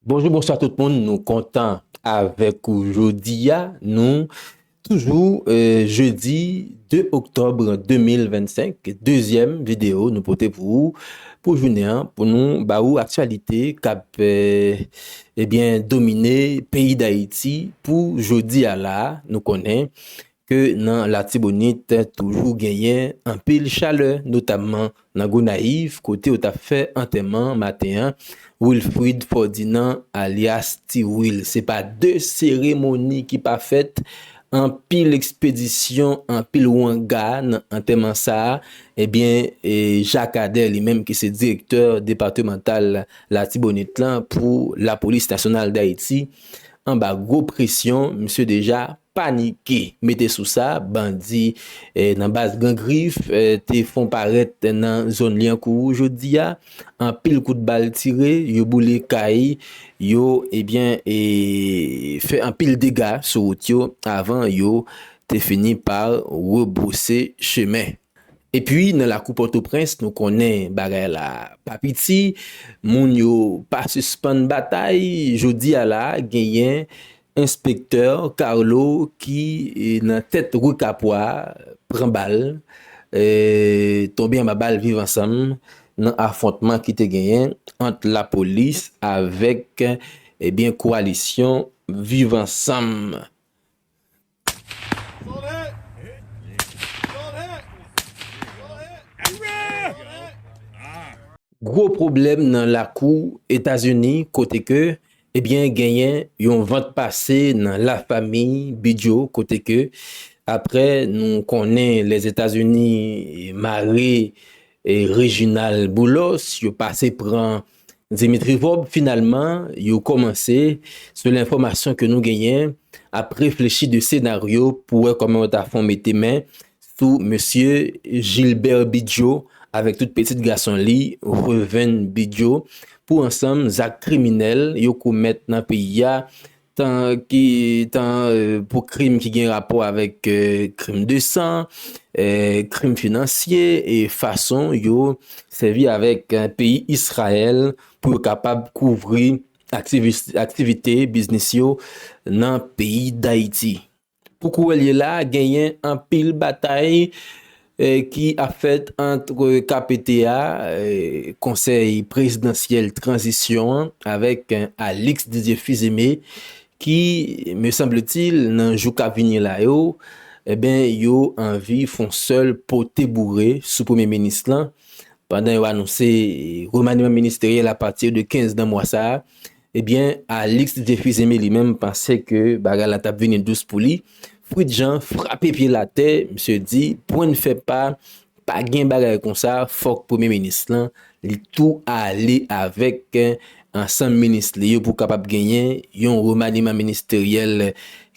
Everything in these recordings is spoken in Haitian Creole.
Bonjou bonswa tout moun nou kontan avèk ou jodi a nou toujou jedi 2 oktòbre 2025 dezyèm videyo nou pote pou ou pou jounen an pou nou ba ou aktyalite kap ebyen domine peyi dayiti pou jodi a la nou konnen ke nan Latibonit toujou genyen anpil chalè notamman nan Gonayiv kote yo tap fè antèman maten an Wilfrid Fòdinan alyas Ti Wil. Se pa de seremoni ki pa fèt, anpil ekspedisyon, anpil wanga nan antèman sa a, ebyen Jak Adè li menm ki se direktè depatemantal Latibonit lan pou lapolis nasyonal Dayiti anba gwo presyon misye deja Panike! Mete sou sa, bandi nan baz Gran Grif te fon parèt nan zòn Lyankou jodi a. Anpil kout bal tire, yo boule kay, yo ebyen e fè anpil dega sou wout yo avan yo te fini pa rebwose chemen. Epi nan lakou Pòtoprens nou konnen bagay la pa piti, moun yo pa sispann batay, jodi a la genyen Enspektè Carlo ki nan tèt rue Capois pran bal, tonbe anba bal viv ansanm nan afwontman ki te genyen ant lapolis avèk kowalisyon viv ansanm. Gwo pwoblèm nan lakou Etazini kote ke ebyen genyen yon vant pase nan la fami Bidyo kote ke apre nou konnen Lèzetazini mare Rejinal Boulos yo pase pran Dimitri Vorbe finalman yo komanse selon enfomasyon ke nou genyen ap reflechi de senaryo pou wè koman yo ta fon mete men sou mesye Gilbert Bidjo avek tout petit gason li Reuven Bidjo pou ansanm zak kriminel yo komèt nan peyi a tan ki tan pou krim ki gen rapò avèk krim de san, krim finansye e fason yo sèvi avèk peyi Israël pou yo kapab kouvri aktivite biznis yo nan peyi Dayiti. Pou kouwèlye la, genyen anpil batay ki ap fèt antre KPT a, Konsèy Prezidansyèl Tranzisyon an, avèk Alix Didier Fils-Aimé ki, me sanble-t-il, nan jou kap vini la yo, enben, yo anvi fon sèl pote boure sou Premye Minis lan, pandan yo anonse remaniman ministeryèl apati de 15 nan mwa sa a. Ebyen Alix Dieufuse Aimé li menm panse ke bagay la tap vini dous pou li, Fritz Jean frape pye l atè, misye di pwen n fè pa, pa gen bagay konsa fòk premye minis lan li tou ale avèk ansanm minis li yo pou kapab genyen yon remaniman ministeryèl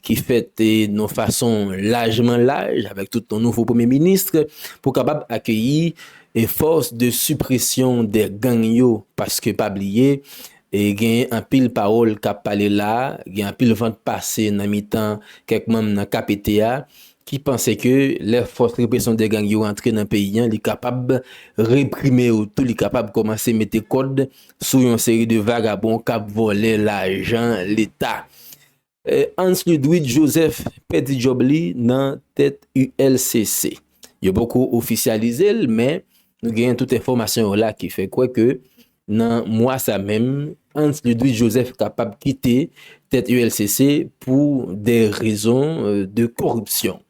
ki fèt yon fason lajman laj avèk tout yon nouvo premye minis pou kapab akeyi e force de suppression de gang yo paske pa bliye genyen anpil pawol kap pale la gen anpil vant pase nan mitan kek manm nan kpt a ki panse ke lè force repression de gang yo rantre nan peyi an li kapab reprime yo tou li kapab komanse mete kod sou yon seri de vagabon kap vole lajan leta. Hans Ludwig Joseph pèdi djòb li nan tèt ULCC. Yo poko ofisyalize l men nou genyen tout enfòmasyon yo la ki fè kwè ke nan mwa sa menm Hans Ludwig Joseph kapab kite tèt ULCC pou de rezon de koripsyon.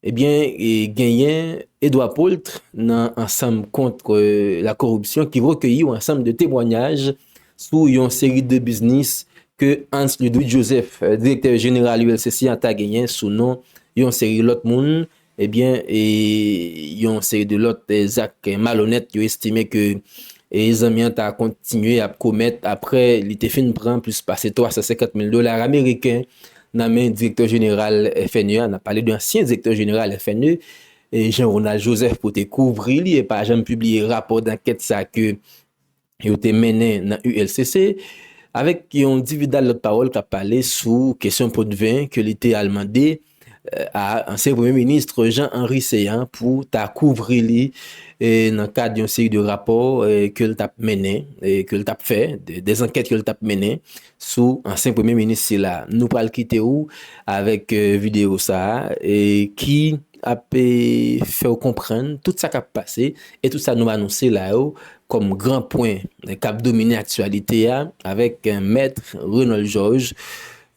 Ebyen genyen Edouard Paultre nan ansanm contre la corruption ki rekeyi yon ansanm de temwanyaj sou yon seri de biznis ke Hans Ludwig Joseph, direktè jeneral ULCC an ta genyen sou non yon seri lòt moun, ebyen yon seri de lòt zak malonèt yo estime ke zanmi an ta kontinye ap komèt apre li te fin pran plis pase 350 mil dolar ameriken Nan men direktè jeneral FNE a, n ap pale de ansyen direktè jeneral FNE, Jean Ronald Joseph pou te kouvri li e pa janm pibliye rapò dankèt sa ke yo te mennen nan ULCC, avèk yon dividal lòt pawòl k ap pale sou kesyon potven ke li te al mande a ansyen premye minis Jean Henry Céant pou ta kouvri li nan kad yon seri de rapò ke l t ap mennen, ke l t ap fè, de zankèt ke l t ap mennen. sou ansyen premye minis sila. Nou pral kite ou avèk videyo sa a ki ap fè ou konprann tout sa k ap pase e tout sa nou anonse la yo kòm gran pwen k ap domine aktyalite a avèk mèt Renold Georges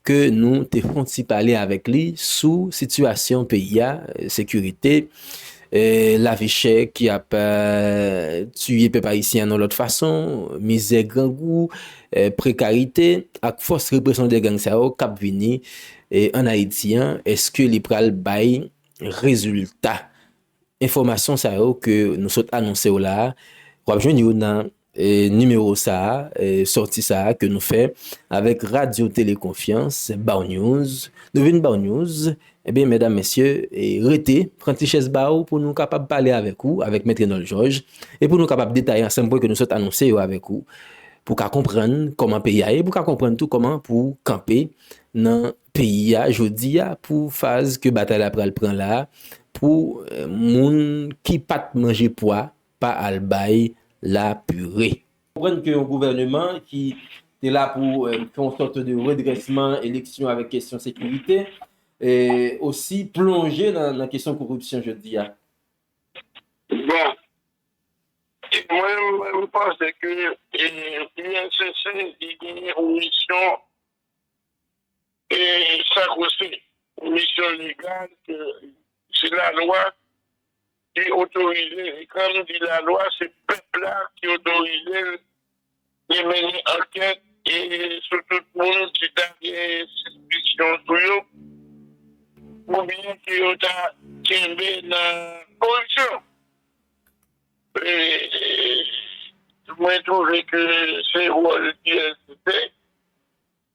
ke nou te fon ti pale avèk li sou sitiyasyon peyi a, sekirite, lavi chè ki ap tiye pèp ayisyen an yon lòt fason, mizè, grangou. Prekarite, ak fòs represyon 2 gang sa yo kap vini an Ayiti an, eske li pral bay rezilta? Enfòmasyon sa yo ke nou sot anonse w la, wap jwenn yo nan nimewo sa, sòti sa ke nou fè avèk Radyo Tele Konfyans, Bawnews. Nou vin bawnews Ebyen medam mesye rete, pran ti chèz ba ou pou nou kapab pale avèk ou, avèk Mèt Renòl Jòj, e pou nou kapab detaye ansanm pwen ke nou sot anonse yo avèk ou, pou ka konprann kòman peyi a ye, pou ka konprann tou kòman pou kanpe nan peyi a jodi a pou faz ke batay la pral pran la a, pou moun ki pat manje pwa pa al bay la pire. Konprann ke yon gouvèneman ki te la pou fè yon sòt de redrèsman, eleksyon avèk kesyon sekirite, osi plonje nan kesyon koripsyon jodi a? Bon, mwen m panse ke INCC li genyen yon misyon sakrosen, yon misyon legal ke se lalwa Te otorize vikram di la lwa se pèp la ki otorize l te mennen ankèt e sou tout moun ki ta gen sispikyon sou yo oubyen ke yo ta kenbe nan koripsyon mwen twouve ke se wòl IRCC.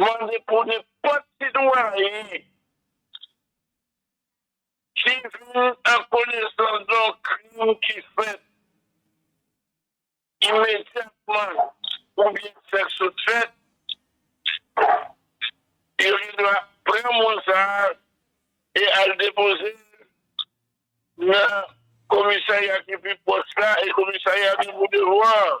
mande pou nenpòt sitwayen ki vin an konesans de yon krim ki fèt imedyatman oubyen ki fèk sot fèt, yo gen dwa pran moun sa a e al depoze l nan komisarya ki pi pwòch la e komisarya de Boudevwa an.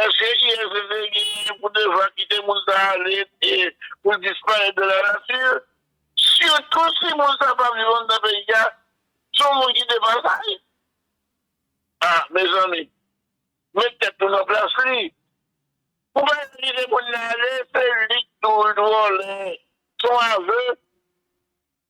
Eske ISSD genyen pou devwa kite moun sa a ale e pou l disparèt de la nature? Sitou si moun sa a pa viv anndan peyi a, se yon moun ki de pasaj. A, mezanmi, met tèt nou nan plas li. Pou bagay ki te konn ale, se li ki toujou vòlè. Se yon aveu.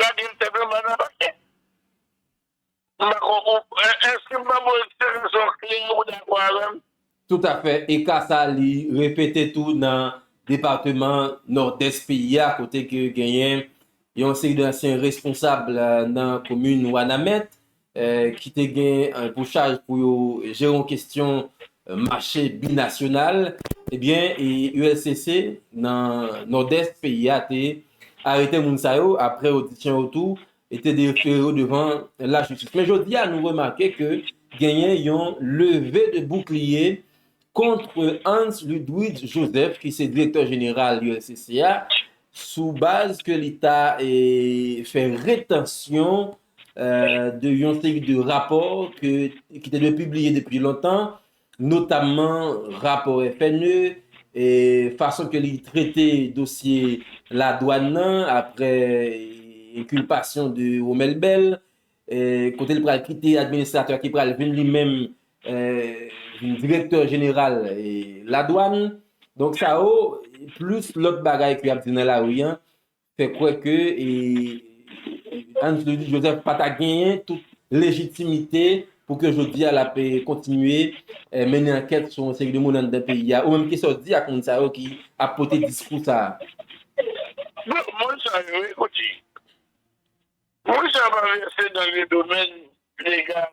Lage l tèt anba nan pase. M pa kwè ou Èske m ban m ou eksplikasyon klè a ou dakò avè m? Toutafè, e ka sa a li repete tou nan depateman Nòdès peyi a kote ke genyen yon seri de ansyen responsab nan komin Wanament ki te gen pou chaj pou yo jere yon kestyon mache binasyonal, ebyen ULCC nan Nòdès peyi a te arete moun sa yo apre odisyon yo tou e te defere yo devan lajistis. Men jodi a nou remake ke genyen yon leve de boukliye kontre Hans Ludwig Joseph ki se direktè jeneral ULCC a sou baz ke li ta fè retansyon de yon seri de rapò ki te dwe pibliye depi lontan, notamman rapò FNE, e fason ke li trete dosye la dwann nan apre enkilpasyon de Romel Bell, kote li pral kite administratè a ki pral vin li menm vin direktè jeneral la dwann. Donk sa yo, plis lòt bagay ke y ap di nan lari an, fè kwè ke Hans Louis Joseph pa ta genyen tout lejitimite pou ke jodi a l ap kontinye mennen ankèt sou yon seri de moun anndan peyi a. Ou menm kisa w di ak moun sa yo ki ap pote diskou sa a? Bon, moun sa yo, ekoute, moun sa yo pa vèse nan le domèn legal.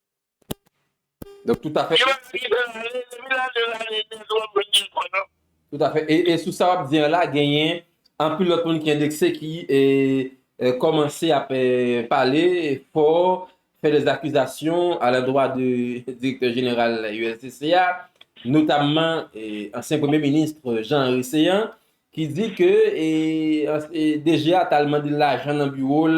Donk tout afè. Yo di ke lane 2022 la ane dèz wòm mwen gen kò non. Tout afè. E sou sa wap di an la genyen anpil lòt moun ki endekse ki kòmanse ap pale fò, fè dè zakizasyon a la dwa de direktè jeneral ULCC a, notamman ansyen premye minis Jean Henry Céant ki di ke DG a tal mande lajan nan biwo l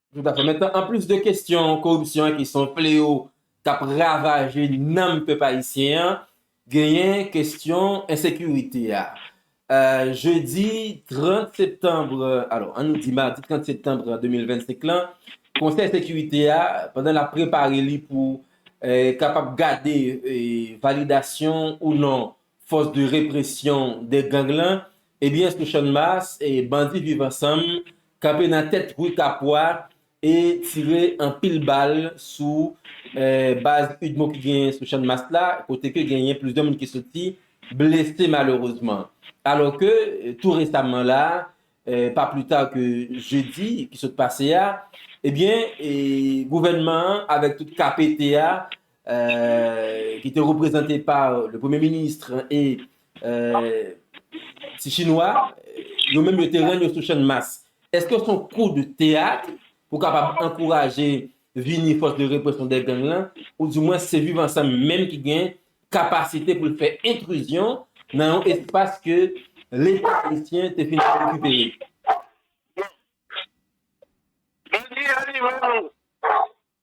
Tout a fè. Men tan, an plis de kestyon koripsyon an ki se yon fleyo k ap ravaje nanm pèp ayisyen an, genyen kestyon ensekirite a. Jedi 30 septanb, alò an nou di madi 30 septanb 2025 lan, konsèy sekirite a, pandan l ap prepare li pou kapab gade validasyon ou non Fòs de represyon de gang lan ebyen sou Channmas bandi viv ansanm kanpe nan tèt rue Kapwa e tire anpil bal sou baz udmo ki genyen sou Channmas la kote ke genyen plizyè moun ki soti blese malerezman. Alò ke tou resamman la pa pli ta ke jedi ki sot pase a ebyen gouvènman an avèk tout KPT a ki te reprezante pa le premye ministre e ti chinwa, yo menm yo te rann yo sou chann mas. Eske son kou de teyat pou kapab ankouraje vini fòs de represyon de gang lan, ou di mwen se viv ansanm menm ki gen kapasite pou l fè entrizyon nan yon espas ke leta ayisyen te fin rekipere? Bon, jodi a li menm,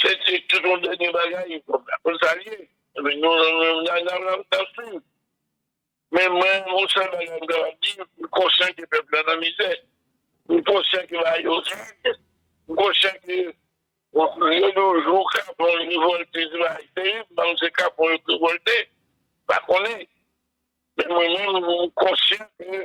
Se te tout yon dènye bagay pou sa l ye. Epi nou menm la n ap suiv. Men mwen yon sèl bagay m kapab di, m konsyan ke pèp la nan mizè. M konsyan ke bagay yo rèd. M konsyan ke lè yon jou kapon yo revòlte se bagay terib. M pa konn si se kapon yo k revòlte, m pa konnen. Men mwen menm m konsyan ke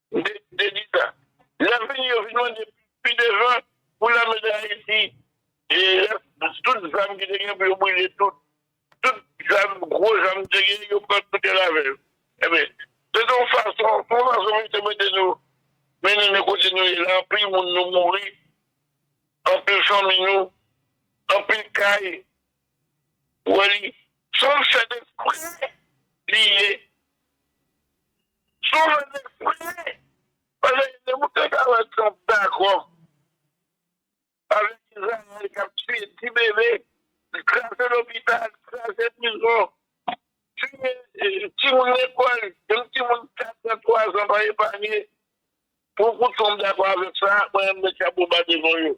Te di sa. Lè vini yo vin mande pi devan pou lame dayiti lèt tout zam ki te gen pou yo brile tout tout zam gwo zam te gen yo pran tout yo lave yo enben se te yon fason se yon fason pou yo te mete nou mennen nou kote nou ye la anpil moun nou mouri anpil fanmi nou anpil kay ou wè li se yon fèt espre li ye. Sou mwen te priye. Paske depi m te ka wè Trump dakò avèk Izrayèl k ap tiye ti bebe, kraze lopital, kraze prizon, tiye timoun lekòl, menm timoun katràn, twazàn pa epanye, pou kou Trump dakò avèk sa, mwen menm m met chapo ba devan yo.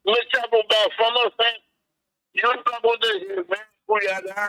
M met chapo ba fanm ansent, youn pa pwoteje l men koulye a la.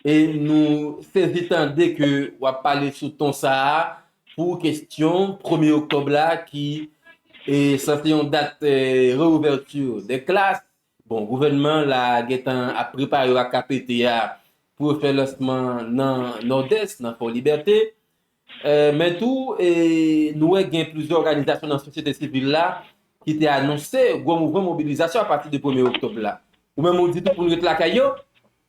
E nou sezi tande ke w ap pale sou ton sa a pou kestyon premye oktòb la ki sanse yon dat reouvèti dè klas. Bon, gouvènman la gentan ap prepare yo ak KPT a pou yo fè lansman nan Nòdès, nan Fò Libète. Men tou, nou wè gen plizyè òganizasyon nan sosyete sivil la ki te anonse gwo mouvman mobilizasyon apati de premye oktòb la. Ou menm ou di tou pou nou ret lakay yo?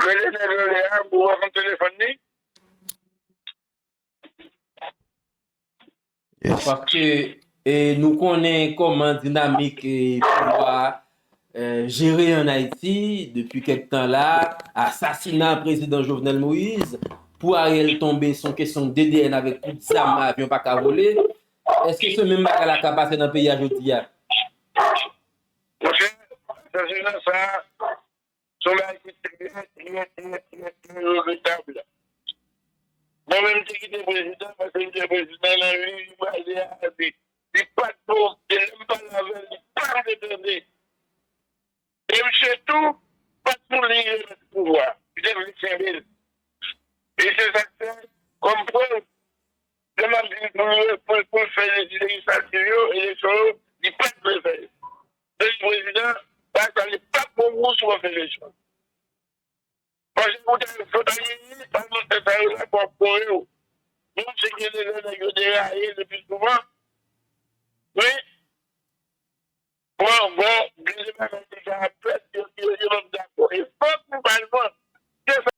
Rele nèg yo le a pou wè konn telefòn li. Paske nou konnen koman dinamik pouvwa jere an Ayiti depi kèk tan la, asasina prezidan Jovenel Moïse, pou Ariel tonbe son kesyon DDN avèk kout zam avyon pa ka vole, eske se menm bagay la ka pase nan peyi a jodi a? Monchè, asasina sa, Se yon bagay ki trè, trè, trè, trè, trè regretab. Mwen menm m te kite prezidan paske m te wè prezidan nan liy li pale a, li pa t bon. E lè m pale avè l, li pa vle tande. E misye tou pa t pou li remèt pouvwa a. Li te vle kenbe l. E se sa k fè, kòm prèv, lè m ap di l pou l fè lejislativ yo, eleksyon yo, li pa t vle fè yo. Peyi prezidan bay sa li pap bon pou ou si w ap vin lejwa. Pase pou w ta al vot ale li palmantè sa yo la pou ap kore w. Menm si gen de lè nèg yo deraye le pi souvan men pou ankò gen de bagay deja ap fèt yo pap dakò. E fòk nou bay manti.